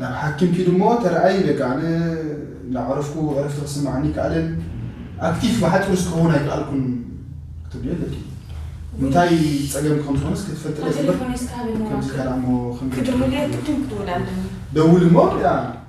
ናብ ሓኪም ኪዱ እሞ ተርኣይ በቃ ኣነ እንዳዕረፍኩ ዕረፍቲ ክስምዓኒ ኣይከኣለን ኣክቲፍ ብሓጺሩ ክኸውን ኣይከኣልኩን ክትብልዮ ኣለኪ እንታይ ጸገም ከም ዝኾነስ ክትፈልጥለ ከምዚ ከኣ እሞ ደውል እሞ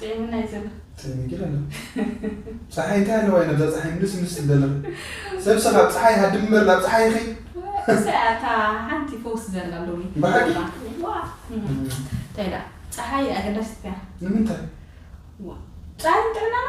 ጤምና እዩ ዘሎ ጤም ይግል ኣሎ ፀሓይ እንታይ ኣለዋ ኢና ብዛ ፀሓይ ምስ ምስ ትደለኽ ሰብ ሰኻብ ፀሓይ ሃድም እምበር ናብ ፀሓይ ይኸይ እታ ሓንቲ ፈውስ ዘላ ሎሚ ብሓቂ እንታይ ዳ ፀሓይ ኣገዳሲት እያ ንምንታይ ፀሓይ ጥዕናና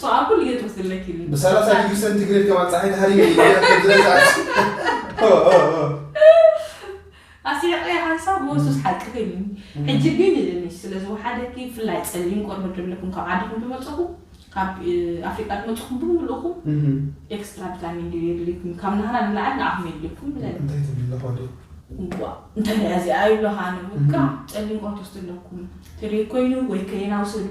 ሰኣኩል እየ ትወስድለኪ ይብል ብሰላሳ ዲግሪ ሰንቲግሬድ ከማን ፀሓይ ተሃሪመ ኣስሒቀ ሓንሳብ መወሱስ ሓቂ ኮይኑኒ ሕጂ ግን ንሽ ስለ ዝወሓደኪ ብፍላይ ፀሊም ቆርበት ዘለኩም ካብ ዓድኹም ዝመፀኹም ካብ ኣፍሪቃ ዝመፀኹም ብምልእኹም ኤክስትራ ቪታሚን ዲ የድልይኩም ካብ ናህና ንላዕሊ ንዓኹም የድልይኩም ብለኒ እንታይ ትብል ኣለኹ ዶ ዋ እንታይ ሪኣ እዚኣ ይብለኻ ኣነ በቃ ፀሊም ቆርበት ወስድ ኣለኩም ትሪር ኮይኑ ወይ ከይና ውሰዱ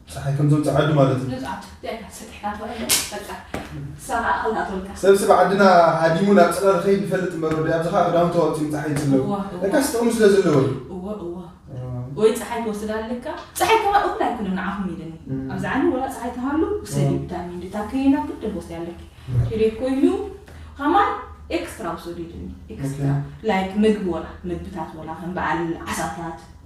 ፀሓይ ከም ዘውፅእ ዓዱ ማለት እዩ ሰብስብ ዓድና ሃዲሙ ናብ ፅላል ኸይድ ይፈልጥ እምበር ወዲ ኣብዚ ከዓ ክዳውንቲ ኣውፂኡ ፀሓይ ይፅለቡ እካስ ጥቕሚ ስለ ዘለዎ ወይ ፀሓይ ክወስድ ኣለካ ፀሓይ ከማ እኹል ኣይኮነን ንዓኹም ኢለኒ ኣብዚ ዓለም ወላ ፀሓይ ተሃሉ ውሰድ ቪታሚን ድታ ከየና ግድን ክወስድ ኣለኪ ኪሬ ኮይኑ ከማን ኤክስትራ ውሰዱ ኢለኒ ኤክስትራ ላይክ ምግቢ ወላ ምግብታት ወላ ከም በዓል ዓሳታት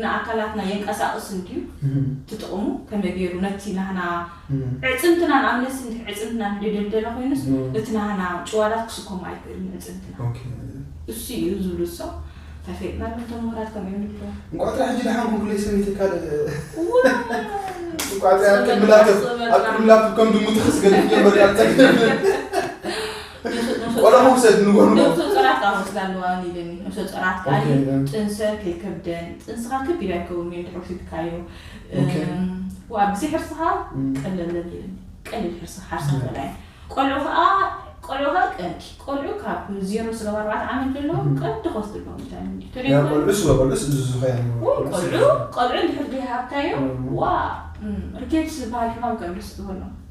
ንኣካላትና የንቀሳቕስ እንድዩ እቲ ጥቕሙ ከመይ ገይሩ ነቲ ናህና ዕጽምትና ንኣምነትሲ እንድሕ ዕጽምትና ንደደልደለ ኮይኑስ እቲ ናህና ጭዋዳት ክስከሞ ኣይክእልን ኣዕጽምትና እሱ እዩ ዝብሉ እሶ እንታይ ፌጥና እሎም እቶም ምሁራት ከምኡ እዮም ዝብልዎ። እንቋዕ ጥራሕ ሕጂ ደሓን ኮንኩለይ ስሚተይ ካልእ እንቋዕ ጥራሕ ኣብ ቅድሚ ላፕቶፕ ኣብ ቅድሚ ላፕቶፕ ከም ድሙ ተኸስገድኩ ጀመርካ ቆለሙም ሰት ንጎኑ ነብሶ ጸራት ካብ ወስዳ ኣለዋ ይብለኒ ነብሶ ጸራት ካሊ ጥንሰት የከብደን ጥንስኻ ክብ ኢላ ይከውን እዩ እንድሕር ወሲድካዮ ዋ ብዚ ሕርስኻ ቀለለ ይብለኒ ቀሊል ሕርሲ ሓርሳ በላይ ቆልዑ ከዓ ቆልዑ ከዓ ቀንዲ ቆልዑ ካብ ዜሮ ስለ ኣርባዕተ ዓመት ዘሎ ቀንዲ ክወስድ ኣለዎም ቆልዑ ስለ ቆልዑ ዝዝኸያ ቆልዑ ቆልዑ እንድሕር ዘይሃብካዮ ዋ ርኬት ዝበሃል ሕማም ቀንዲ ስበሎ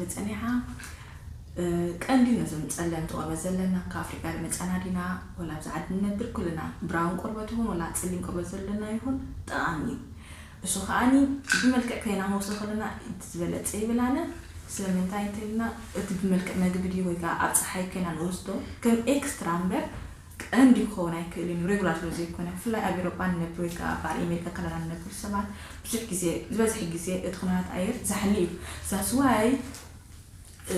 መጸኒዓ ቀንዲ ነዞም ጸለምቲ ቆርበት ዘለና ካብ ኣፍሪቃ ድመጻና ዲና ወላ ኣብዚ ዓዲ ንነብር ኩልና ብራውን ቆርበት ይኹን ወላ ጽሊም ቆርበት ዘለና ይኹን ጠቃሚ እዩ እሱ ከኣኒ ብመልክዕ ከይናመውሰ ከለና እቲ ዝበለጸ ይብል ኣነ ስለምንታይ እንተልና እቲ ብመልክዕ መግቢ ድዩ ወይ ከኣ ኣብ ጸሓይ ከይና ንወስዶ ከም ኤክስትራ እምበር ቀንዲ ክኸውን ኣይክእልን እዩ፣ ሬጉላር ስለ ዘይኮነ። ብፍላይ ኣብ ኤውሮጳ ንነብር ወይ ከኣ ኣብ በዓል ኤሜሪካ ካናዳን ንነብር ሰባት፣ ብዙሕ ግዜ፣ ዝበዝሕ ግዜ እቲ ኩነታት ኣየር ዛሕሊ እዩ። That's why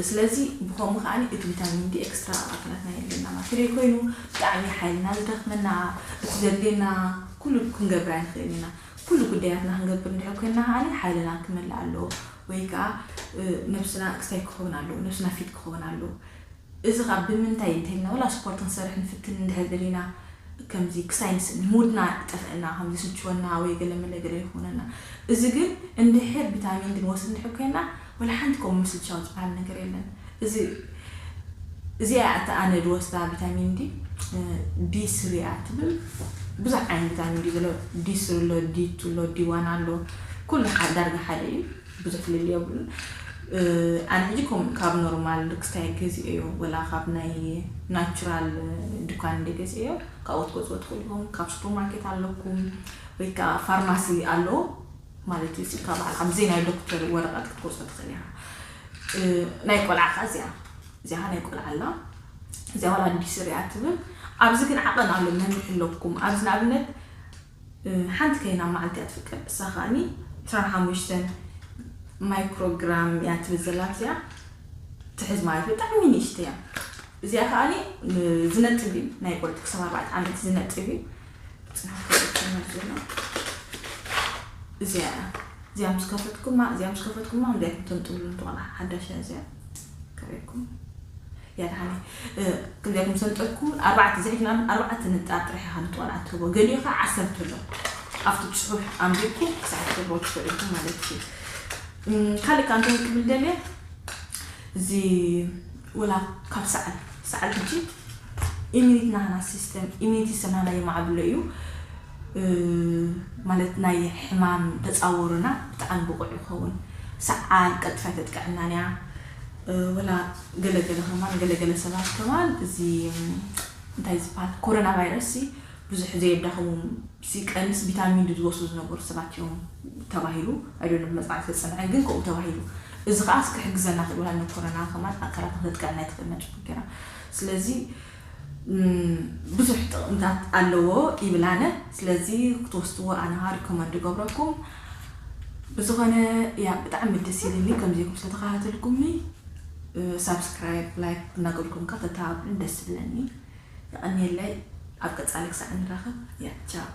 ስለዚ ብኸምኡ ከኣ እቲ ቪታሚን ዲ ኤክስትራ ኣብ ኣካላትና የድልየና ማለት እንተደይ ኮይኑ ብጣዕሚ ሓይልና ዝደኽመና፣ እቲ ዘድልየና ኩሉ ክንገብር ኣይንኽእልን ኢና። ኩሉ ጉዳያትና ክንገብር እንድሕር ኮይንና ከኣ ሓይልና ክመልእ ኣለዎ ወይ ከኣ ነብስና ኤክሳይት ክኸውን ኣለዎ፣ ነብስና ፊት ክኸውን ኣለዎ። እዚ ከኣ ብምንታይ እንተልና ወላ ስፖርት ክንሰርሕ ንፍትን እንድሕር ደሊና ከምዚ ክሳይ ንስእን ሙድና ይጠፍእና ከም ዝስችወና ወይ ገለ መለ ገለ ይኮነና እዚ ግን እንድሕር ቢታሚን ዲ ንወስድ እንድሕር ኮይና ወላ ሓንቲ ከምኡ ምስልቻው ዝብሃል ነገር የለን እዚ እዚኣ እያ እታ ኣነ ድወስዳ ቢታሚን ዲ ዲ ስሪ እያ ትብል ብዙሕ ዓይነት ቢታሚን ዲ ዘሎ ዲ ስሪ ኣሎ ዲ ቱ ኣሎ ዲ ዋን ኣሎ ኩሉ ዳርጋ ሓደ እዩ ብዙሕ ፍልልይ የብሉን ኣነ ሕጂ ከምኡ ካብ ኖርማል ርክስታይ ገዚኤዮ ወላ ካብ ናይ ናቹራል ዱካን እንድየ ገዚኤዮ ካብኡ ክትገዝእዎ ትክእሉ ኢኩም ካብ ሱፐር ማርኬት ኣለኩም ወይ ከኣ ፋርማሲ ኣሎ ማለት እዩ ስልካ በዓል ኣብዘይ ናይ ዶክተር ወረቀት ክትገዝኦ ትክእል ኢካ ናይ ቆልዓ ከኣ እዚኣ እዚኣ ከኣ ናይ ቆልዓ ኣላ እዚኣ ወላ ኣዲስ ርያ ትብል ኣብዚ ግን ዓቀን ኣሎ መን ይሕለኩም ኣብዚ ንኣብነት ሓንቲ ከይና መዓልቲ እያ ትፍቀድ እሳ ከኣኒ ዕስራን ሓሙሽተን ማይክሮ ግራም እያ ትብል ዘላ እዚኣ ትሕዝ ማለት እዩ ብጣዕሚ ንእሽተይ እያ እዚኣ ከኣኒ ዝነጥብ እዩ ናይ ቆልዑ ክሳብ ኣርባዕተ ዓመት ዝነጥብ እዩ እዚኣ እዚኣ ምስ ከፈትኩማ እዚኣ ምስ ከፈትኩማ እንታይ ትንጥብሉ ትኾና ሓዳሽ እያ እዚኣ ከርእየኩም ያድሓነ ክልቴኩም ሰልጠኩ ኣርባዕተ ዝሒፍናሉ ኣርባዕተ ንጣር ጥራሕ ኢካ ንጥዋል ኣትህቦ ገሊኡ ከኣ ዓሰርተ ኣሎ ኣብቲ ጽሑፍ ኣንቢብኩ ክሳዕ ክትረክቦ ትክእሉ ኢኩም ማለት እዩ ካልእ ከኣ እንታይ ክብል ደልየ እዚ ወላ ካብ ሰዓል ሰዓል ሕጂ ኢሚኒት ናህና ሲስተም ኢሚኒቲ ሲስተም ናህና የማዕብሎ እዩ ማለት ናይ ሕማም ተጻወሩና ብጣዕሚ ብቑዕ ይኸውን ሰዓል ቀጥታ ኣይተጥቅዐናን እያ ወላ ገለ ገለ ከማን ገለ ገለ ሰባት ከማን እዚ እንታይ ዝበሃል ኮሮና ቫይረስሲ ብዙሕ ዘየዳኸሞም ሲቀንስ ቪታሚን ዲ ዝወስዱ ዝነበሩ ሰባት እዮም ተባሂሉ ኣይዶሎም መፅናዕቲ ተፀንዐ ግን ከምኡ ተባሂሉ እዚ ከዓ ክሕግዘና ክእል ወላ ንኮሮና ከማን ኣካላት ንክነጥቅዕ ናይ ትኽእል ነጭ ገራ ስለዚ ብዙሕ ጥቅምታት ኣለዎ ይብል ኣነ ስለዚ ክትወስድዎ ኣነ ከኣ ሪኮመንድ ይገብረኩም ብዝኮነ ያ ብጣዕሚ ደስ ኢልኒ ከምዚ ኢልኩም ስለተከታተልኩምኒ ሳብስክራይብ ላይክ እናገብርኩም ከኣ ተተባብዑን ደስ ይብለኒ የቀንየለይ ኣብ ቀጻሊ ክሳዕ ንራከብ ያ ቻው